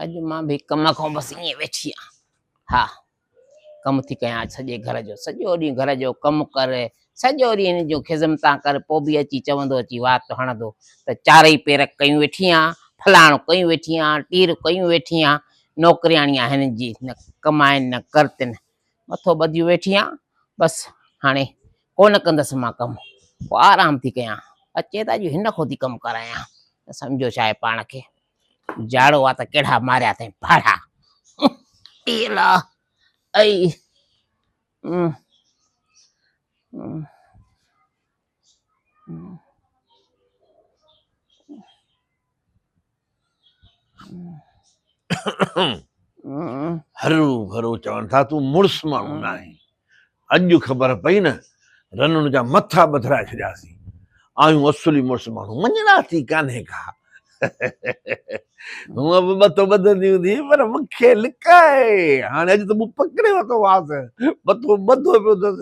اڄ مان به ڪم کان بس ائين ويٺي آهيان ها ڪم ٿي ڪيان اڄ سڄي گهر جو سڄو ڏينهن گهر جو ڪم ڪر سڄو ڏينهن هن جون خدمتان ڪر پوء به اچي چوندو اچي وات هڻندو ته چارئي پير ڪيون ويٺي آهيان فلاڻو ڪيون ويٺي آهيان ٽير ڪيون ويٺي آهيان نوڪرياڻي آهن هنن جي نه ڪمائن نه ڪرتن مٿو ٻڌيون ويٺي آهيان بس هاڻي ڪونه ڪندس مان ڪم پوء آرام ٿي ڪيان اچي ته اڄ هن کان ٿي ڪم ڪرايان سمجهو شايد پاڻ کي جاڙو آ ته ڪهڙا ماريا اٿئي ڦاڙها. اي الا اي هرو ڀرو چون ٿا تون مڙس ماڻهو ناهين اڄ خبر پئي نه، رنڻ جا مٿا ٻڌرائي ڇڏياسين. آهيون اصولي مڙس ماڻهو، مڃڻاسي ڪانهي ڪا. هونء به مٿو ٻڌندي هوندي پر مون کي لڪائي. هاڻي اڄ ته مون پڪڙي ورتو مانس، مٿو ٻڌو پيو اٿس.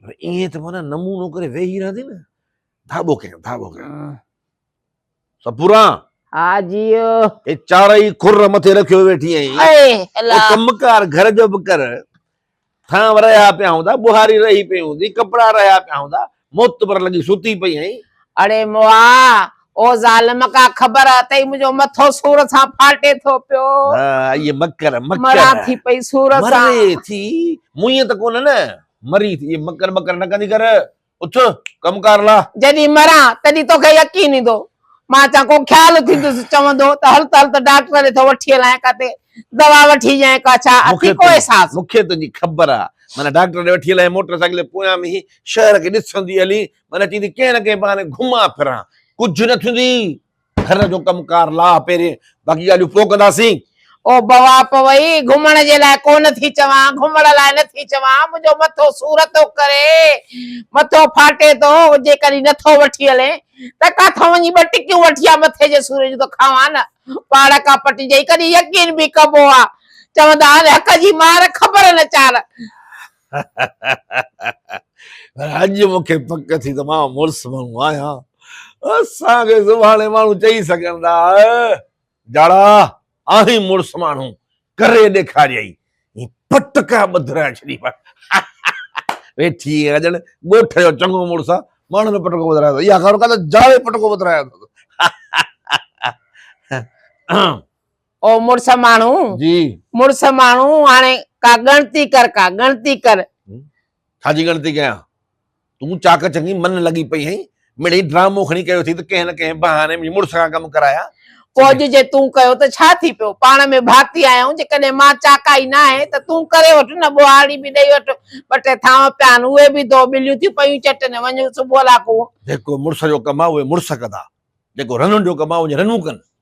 پر ائين ته معنيٰ نمونو ڪري ويهي رهندي نه، ڌاٻو ڪيائين، ڌاٻو ڪيائين. سپورا ها جي هي چارئي کر مٿي رکيو ويٺي آهين اي الا ڪم ڪار گهر جو به ڪر ٿانو رهيا پيا هوندا بهاري رهي پئي هوندي ڪپڙا رهيا پيا هوندا معتبر لڳي ستي پئي آهين اڙي موا او ظالم ڪا خبر اٿئي منهنجو مٿو سور سان ڦاٽي ٿو پيو اي مڪر مڪر مرا ٿي پئي سور سان مري ٿي مون ته ڪونه نه مري ٿي مڪر مڪر نه ڪندي ڪر اٿ ڪم ڪار لاء. جڏهن مران تڏهن توکي يقين ايندو. مان اچان ڪو خيال ٿيندس چوندو ته هل ته هل ته ڊاڪٽر ڏي ٿو وٺي هلان ڪاتي دوا وٺي ڄائين ڪا ڇا اٿي ڪو احساس. مون کي تنهنجي خبر آ معنيٰ ڊاڪٽر ڏي وٺي هلان موٽر سائيڪل جي پويان به هي شهر کي ڏسندي هلين معنيٰ چيندي ڪنهن نه ڪنهن بهاني گهمان ڦران ڪجهه نه ٿيندي. گهر جو ڪم ڪار لاهه پهرين باقي ڳالهيون پوء ڪنداسين. او بوا پوئي، گهمڻ جي لاء ڪو نه ٿي چوان، گهمڻ لاء نه ٿي چوان، منهنجو مٿو سور ٿو ڪري، مٿو ڦاٽي ٿو، جيڪڏهن نه ٿو وٺي هلين ته ڪاٿو وڃي ٻه ٽڪيون وٺي آ مٿي جي سور جون ته کاوان نه، پاڙ ڪا پٽي جئي ڪڏهن يقين به ڪبو آ، چوندا آهن حق جي مار خبر نه چار. پر اڄ مون کي پڪ ٿي ته مان مڙس ماڻهو آهيان اسان کي زباڻي ماڻهو چئي سگهن ٿا جاڙا آهين مڙس ماڻهو ڪري ڏيکاريائي پٽ ڪا ٻڌ رهي ڇڏي ويٺي ڄڻ ڳوٺ جو چڱو مڙس آ ماڻهن جو پٽڪو ٻڌرايو اٿس اها خبر ڪا ته جاڙي پٽڪو ٻڌرايو اٿس او مڙس ماڻهو جي مڙس ماڻهو هاڻي ڪا ڳڻتي ڪر ڪا ڳڻتي ڪر. ڇا جي ڳڻتي ڪيان؟ تون چاڪ چڱي من لڳي پئي هئين، مڙئي ڊرامو کڻي ڪيو اٿئي ته ڪنهن نه ڪنهن بهاني منهنجي مڙس کان ڪم ڪرايا. پوء اڄ جي تون ڪيو ته ڇا ٿي پيو؟ پاڻ ۾ ڀاتي آهيون، جيڪڏهن مان چاڪائي ناهي ته تون ڪري وٺ نه ٻوهارڙي به ڏئي وٺ، ٻه ٽي ٿانو پيا آهن اهي به ڌو، ٻليون ٿيون پيون چٽن، وڃ صبح لاکون. جيڪو مڙس جو ڪم آهي اهي مڙس ڪندا، جيڪو رنن جو ڪم آهي اهي رنون ڪن.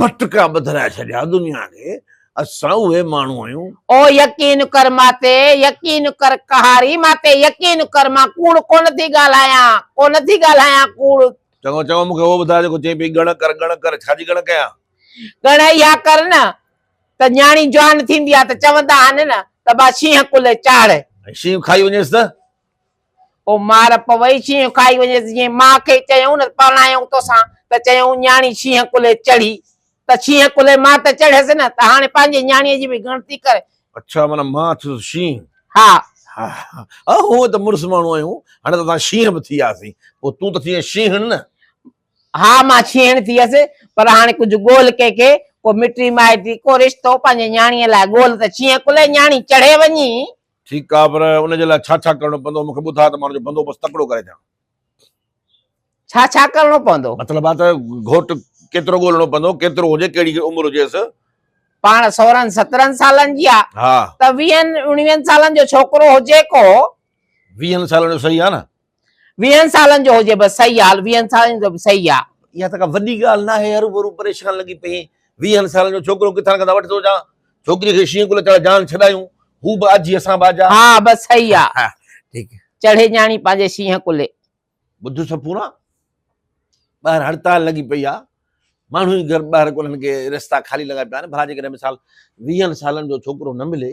پٽڪا ٻڌرائي ڇڏيا دنيا کي، اسان اهي ماڻهو آهيون. او يقين ڪر مان تي، يقين ڪر قهاري مان تي، يقين ڪر مان ڪوڙ ڪونه ٿي ڳالهايان، ڪونه ٿي ڳالهايان ڪوڙ. چڱو چڱو مون کي اهو ٻڌاء جيڪو چئين پئي ڳڻ ڪر ڳڻ ڪر، ڇا جي ڳڻ ڪيان؟ ڳڻ اها ڪر نه ته نياڻي جوان ٿيندي آهي ته چوندا آهن نه ته ٻا شينهن ڪلهي چاڙهه. ۽ شينهن کائي وڃيس ته؟ او مار پوي شينهن کائي وڃيس جيئن ماء کي چيائون نه پرڻايائون توسان ته چيائون نياڻي شينهن ڪلهي چڙهي ته شينهن ڪلهي مان ته چڙهيس نه ته هاڻي پنهنجي نياڻيء جي به ڳڻتي ڪر. اڇا معنيٰ مان ٿيس شينهن. ها. ها ها هونء ته مڙس ماڻهو آهيون هاڻي ته اسان شينهن به ٿي وياسين پوء تون ته ٿيئين شينهڻ نه. ها مان شينهڻ ٿيس پر هاڻي ڪجهه ڳول ڪنهن کي ڪو مٽي مائٽي ڪو رشتو پنهنجي نياڻيء لاء ڳول ته شينهن ڪلهي نياڻي چڙهي وڃي. ٺيڪ آ پر ان جي لاء ڇا ڇا ڪرڻو پوندو مون کي ٻڌاء ته مان ان جو بندوبست تڪڙو ڪري ڏيان. ڇا ڇا ڪرڻو پوندو؟ مطلب آ ته گهوٽ ڪيترو ڳولڻو پوندو ڪيترو هجي ڪهڙي عمر هجيس. پاڻ سورهن سترهن سالن جي آ ها. ته ويهن اڻويهن سالن جو ڇوڪرو هجي ڪو. ويهن سالن جو صحيح آ نه. ويهن سالن جو هجي بس صحيح آ ويهن سالن جو به صحيح آ. اها ته ڪا وڏي ڳالهه ناهي هرو ڀرو پريشان لڳي پئين ويهن سالن جو ڇوڪرو ڪٿان ڪٿان وٺي ٿو اچان ڇوڪري کي شينهن ڪلهه چڙهي جان ڇڏايون هو به آجي اسان به آجا ها بس صحيح آ ها ٺيڪ چڙهي ڄاڻي پنهنجي شينهن ڪلهي. ٻڌ سپورا ٻاهر هڙتال لڳي پئي آ ماڻهو ئي گهر ٻاهر ڪونهن ڪي رستا خالي لڳا پيا آهن ڀلا جيڪڏهن مثال ويهن سالن جو ڇوڪرو نه ملي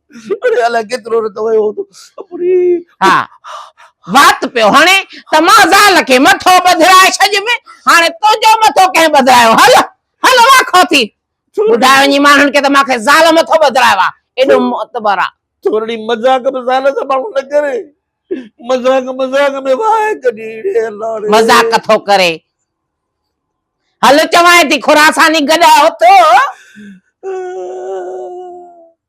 اڙي الائي ڪيترو رت ويو هوندو اپڙي. ها وات پيو هڻي ته مان زال کي مٿو ٻڌرائي ڇڏيم هاڻي تنهنجو مٿو ڪنهن ٻڌرايو هل هل واکو ٿي ٻڌاء وڃي ماڻهن کي ته مان کي زال مٿو ٻڌرايو آ ايڏو معتبر آ. ٿورڙي مذاق به زال سان ماڻهو نه ڪري مذاق مذاق ۾ واهه ڪڍي اڙي الله ڙي. مذاق ٿو ڪري هل چوانء ٿي خراساني گڏهه اٿ.